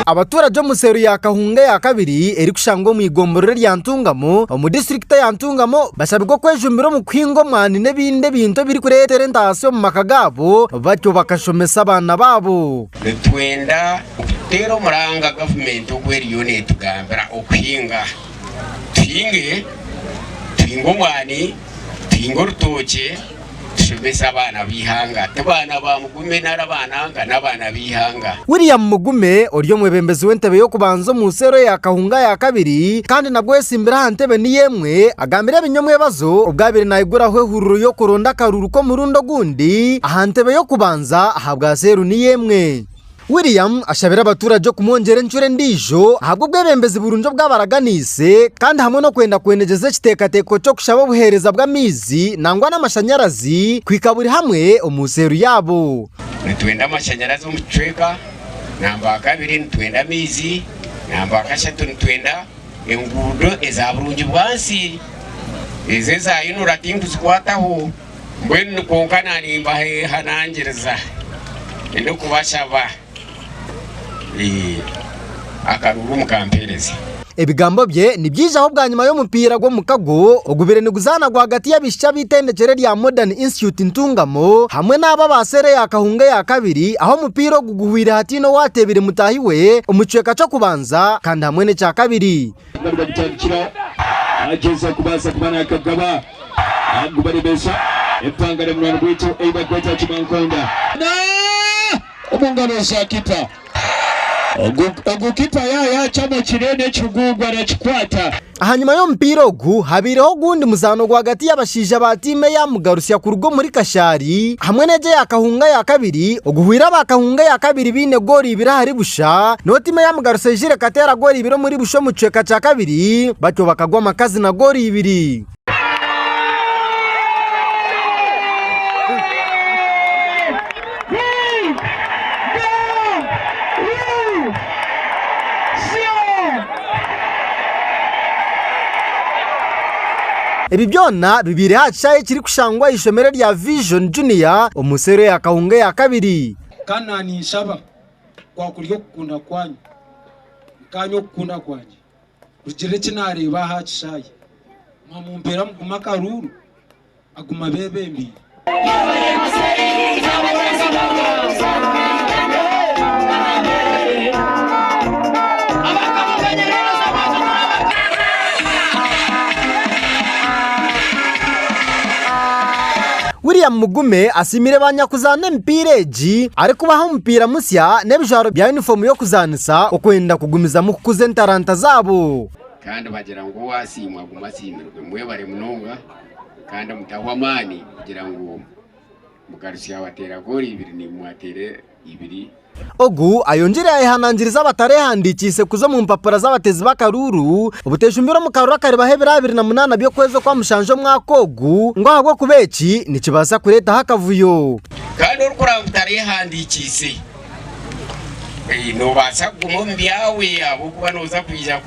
Abaturage omu seero ya Kahunga eya kabiri erikushangwa omu igomborora erya Ntungamo omu disiturikiti eya Ntungamo bashabirwe okwejumbira omu kuhinga omwani n'ebindi ebintu ebirikureetera entaasya omu maka gaabo batyo bakashomesa abaana baabo. Nitwenda kuteera omuranga gavumenti ogu eriyo neetugambira okuhinga. Tuhinge, tuhinge omwani, tuhinge orutookye. Tushomesa abaana b'eihanga. Ti baana ba Mugume nari abaananga, n'abaana b'eihanga. William Mugume ori omwebembezi w'entebe y'okubanza omu nsi ero eya Kahunga ya kabiri kandi nabwo oyetsimbire aha ntebe niyo emwe, agambire ebinyomwebazo obwo abaire naiguraho ehuriro y'okuronda akaruru k'omurundi ogundi aha ntebe y'okubanza ahabwa seeru niyo emwe. William ashabire abatuurage okumwongyera encura endiijo ahabw'obwebembezi burungi obu abaraganiise kandi hamwe n'okwenda kwenegyeza ekiteekateeko ky'okushaba obuheereza bw'amaizi nangwa n'amashanyarazi kuhika buri hamwe omu seelu yaabo. Nitwenda amashanyarazi omu kicweka namba akabiri nitwenda amaizi namba akashatu nitwenda enguudo eza burungi bwansi ezo eza UNRA tinkuzikwataho Mbwenu kwonka narimbaheeha nangiriza ndi kubashaba akaruru mukampeereza. Ebigambo bye nibyaijaho bwanyima y'omupiira gw'omukago ogubire niguzaana rwagati y'abaishiki ab'eitendekyere rya Modern Institute Ntungamo hamwe n'abo aba seera eya Kahunga eya kabiri ahu omupiira ogu guhweire hataine owaateebire mutaahi we omu kicweka ky'okubanza kandi hamwe n'ekya kabiri. Nabire agitandikira nagyeza kubaasa kuba nakagaba agubarebesa empanga na munwani gwaitu ei barikweta Kimankonda. Na omu ngaro za kipa. Ogu ogu kipa ya yacama kireni ekigugu arakikwata. Ahanyima y'omupiira ogu, habaireho ogundi muzaano rwagati y'abashaija ba tiimu eya Mugarusya kuruga omuri Kashari hamwe n'egi eya Kahunga ya kabiri oguhweire aba Kahunga ya kabiri baine gooli eibiri ahari busha, reero tiimu eyaamugarutsa eijire ekateera goolo ibiri omuri busha omu kicweka kya kabiri, batyo bakagwa amakazi na goolo ibiri. Ebi byona bibaire aha kishaayi ekirikushangwa aha ishomero rya Vision Junior omu seero ya Kahunga eya kabiri. Kana ninshaba kwakuri okukunda kwanyu, nkaanye okukunda kwangye kugirira eki naareeba aha kishaayi, mwa mumpeera mugume akaruuru agu mabebembeire. William Mugume asiimire ba nyakuzaana emipiira egi arikubaha omupiira musya n'ebijwaro bya yunifoomu y'okuzaanisa okwenda kugumizamu kukuza entaranta zaabo. Kandi bagira ngu owaasiimwa aguma asiimirwe. Mwebare munonga kandi mutahwa amaani kugira ngu mugarutsye abateera goolo ibiri nimwo ateere ibiri. Ogu ayongyire yayehanangiriza abatarehandikiise kuza omu mpapura z'abatezi b'akaruuru obutejumbire omu karuuru akaribaho ebiro abiri na munaana by'okwezi okwa mushanju omwaka ogu ngu ahabw'okuba eki nikibaasa kureetaho akavuyo. Kandi orikuraaba otarehandikiise, nobaasa kuguma omu byawe ahabw'okuba noza kwija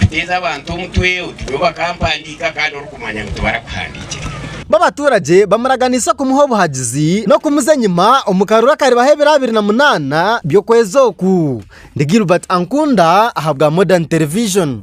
kuteeza abantu omutwe oti nyowe bakampandiika kandi kumanya ngu tibarakuhandiikirira. Bo abaturagye bamuraganiise kumuha obuhagizi n'okumuza enyima omu karuru akaribaho ebiro abiri na munaana by'okwezi oku. Ndi Gilbert Ankunda ahabwa Modern Television.